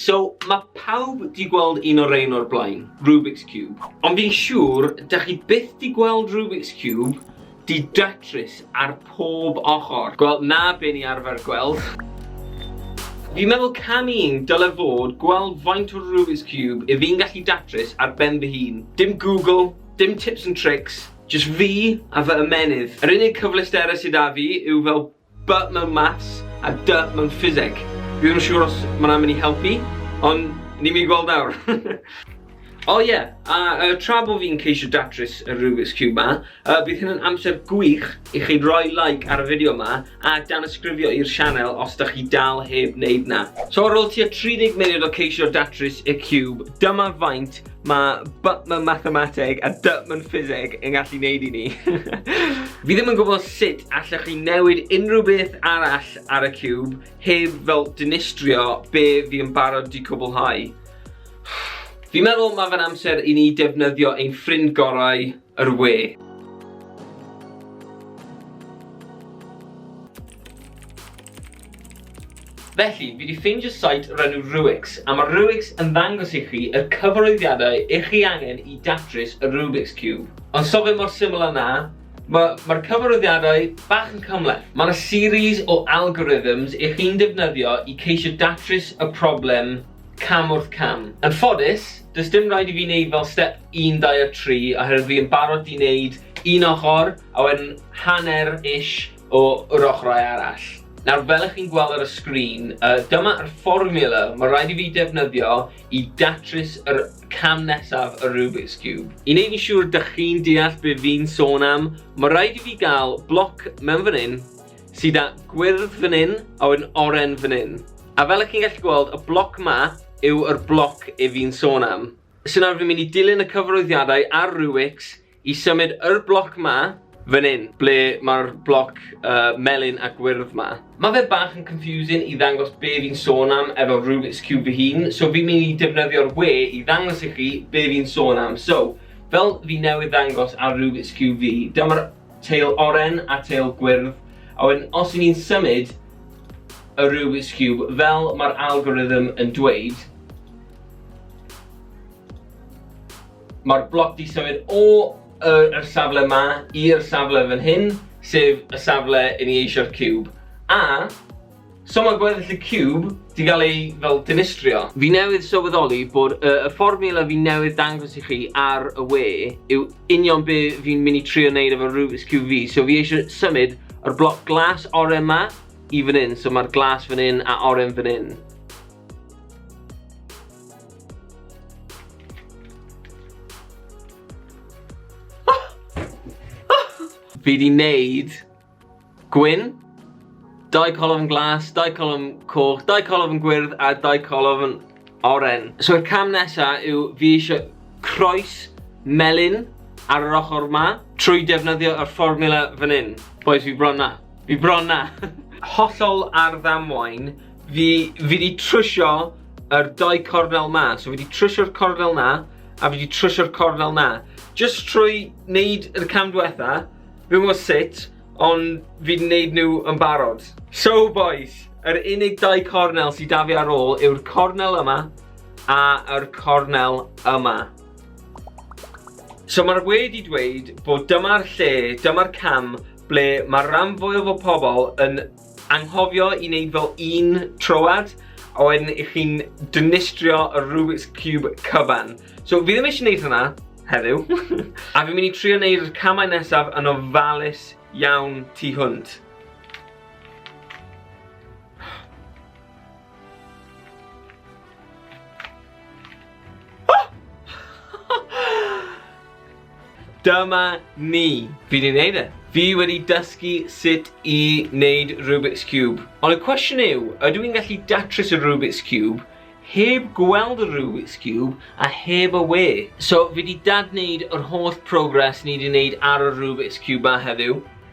So, mae pawb di gweld un o'r ein o'r blaen, Rubik's Cube. Ond fi'n siŵr, da chi byth di gweld Rubik's Cube di datrys ar pob ochr. Gweld na be ni arfer gweld. Fi'n meddwl cam un dyle fod gweld faint o Rubik's Cube i fi'n gallu datrys ar ben fy hun. Dim Google, dim tips and tricks, Jyst fi a fy ymennydd. Yr unig cyfleusterau sy 'da fi yw fel B mewn Maths a D mewn Ffiseg. Dwi ddim yn siŵr os ma' 'na'n mynd i helpu, ond ni'n mynd i gweld nawr. O ie, a yy tra bo' fi'n ceisio datrys y Rubik's Cube 'ma, yy bydd hyn yn amser gwych i chi roi like ar y fideo 'ma a danysgrifio i'r sianel os 'dach chi dal heb wneud 'na. So ar ôl tua 30 munud o ceisio datrys y Cube, dyma faint Mae B mewn mathemateg a D mewn ffiseg yn gallu neud i ni. Fi ddim yn gwybod sut allech chi newid unrhyw beth arall ar y cube heb fel dinistrio be fi yn barod di cwblhau. Fi'n meddwl mae fe'n amser i ni defnyddio ein ffrind gorau, Yr we. Felly, fi 'di ffeindio site o'r enw Ruix, a mae Ruix yn ddangos i chi y cyfarwyddiadau i chi angen i datrys y Rubik's Cube. Ond so fe mor syml â 'na, mae'r ma cyfarwyddiadau bach yn cymhleth. Mae 'na series o algorithms i chi'n defnyddio i ceisio datrys y problem cam wrth cam. Yn ffodus, does dim rhaid i fi wneud fel step 1, 2 a 3 oherwydd fi yn barod 'di wneud un ochr a wedyn hanner ish o yr ochrau arall. Nawr fel ych chi'n gweld ar y sgrin, dyma yr fformiwla mae rhaid i fi defnyddio i datrys yr cam nesaf y Rubik's Cube. I wneud yn siŵr dych chi'n deall be fi'n sôn am, mae rhaid i fi gael bloc mewn fan hyn, Sy 'da gwyrdd fan 'yn a wedyn oren fan 'yn. A fel 'ych chi'n gallu gweld, y bloc 'ma yw yr bloc 'yf fi'n sôn am. So nawr fi'n mynd i dilyn y cyfarwyddiadau a'r Rubix i symud yr bloc 'ma fan 'yn, ble ma'r bloc melyn a gwyrdd 'ma. Ma' fe bach yn confusing i ddangos be' fi'n sôn am efo Rubix Cube fy hun, so fi'n mynd i defnyddio'r we i ddangos i chi be' fi'n sôn am. So, fel fi newydd ddangos ar Rubix Cube fi, dyma'r Teil oren a teil gwyrdd, a wedyn os y'n ni'n symud y Rubik's Cube fel mae'r algorithm yn dweud, mae'r bloc di symud o yr, yr safle ma i'r safle fan hyn, sef y safle i ni eisio'r cube. A So mae gweddill y cube di gael ei fel dinistrio. Fi newydd sylweddoli bod y, y fformiwla fi newydd dangos i chi ar y we yw union be fi'n mynd i trio wneud efo Rubik's Cube fi. So fi eisiau symud yr bloc glas oren ma i fan hyn. So mae'r glas fan hyn a oren fan hyn. fi di wneud gwyn, dau colofn glas, dau colofn coch, dau colofn gwyrdd a dau colofn oren. So y cam nesa yw fi eisiau croes melyn ar yr ochr ma trwy defnyddio y fformula fan hyn. Boys, fi bron na. Fi bron na. Hollol ar ddamwain, fi, fi di trwsio yr dau cornel ma. So fi di trwsio'r cornel na a fi di trwsio'r cornel na. Just trwy wneud yr cam diwetha, Dwi'm gwybod sut, ond fi'n wneud nhw yn barod. So bois, yr unig dau cornel sydd 'da fi ar ôl yw'r cornel yma a yr cornel yma. So mae'r we wedi dweud bod dyma'r lle, dyma'r cam ble mae'r ram fwyaf o pobl yn Anghofio i wneud fel un troad, a wedyn i chi'n dynistrio y Rubik's Cube cyfan. So, fi ddim eisiau gwneud hwnna heddiw. a fi'n mynd i trio wneud y camau nesaf yn ofalus iawn tu hwnt. Dyma ni. Fi wedi gwneud e. Fi wedi dysgu sut i wneud Rubik's Cube. Ond y cwestiwn yw, ydw i'n gallu datrys y Rubik's Cube heb gweld y Rubik's Cube a heb y we. So fi wedi dadwneud yr holl progress ni wedi wneud ar y Rubik's Cube ma heddiw.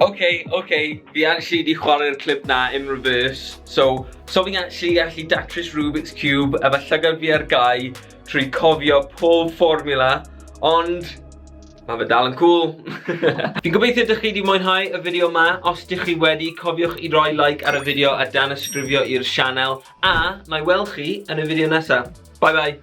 Ok, ok, fi actually di chwarae'r clip na in reverse. So, so fi'n actually gallu datrys Rubik's Cube efo llygad fi ar gau trwy cofio pob formula, ond mae fe dal yn cool. fi'n gobeithio dych chi wedi mwynhau y fideo yma. Os dych chi wedi, cofiwch i roi like ar y fideo a dan ysgrifio i'r sianel. A, na i weld chi yn y fideo nesaf. Bye bye.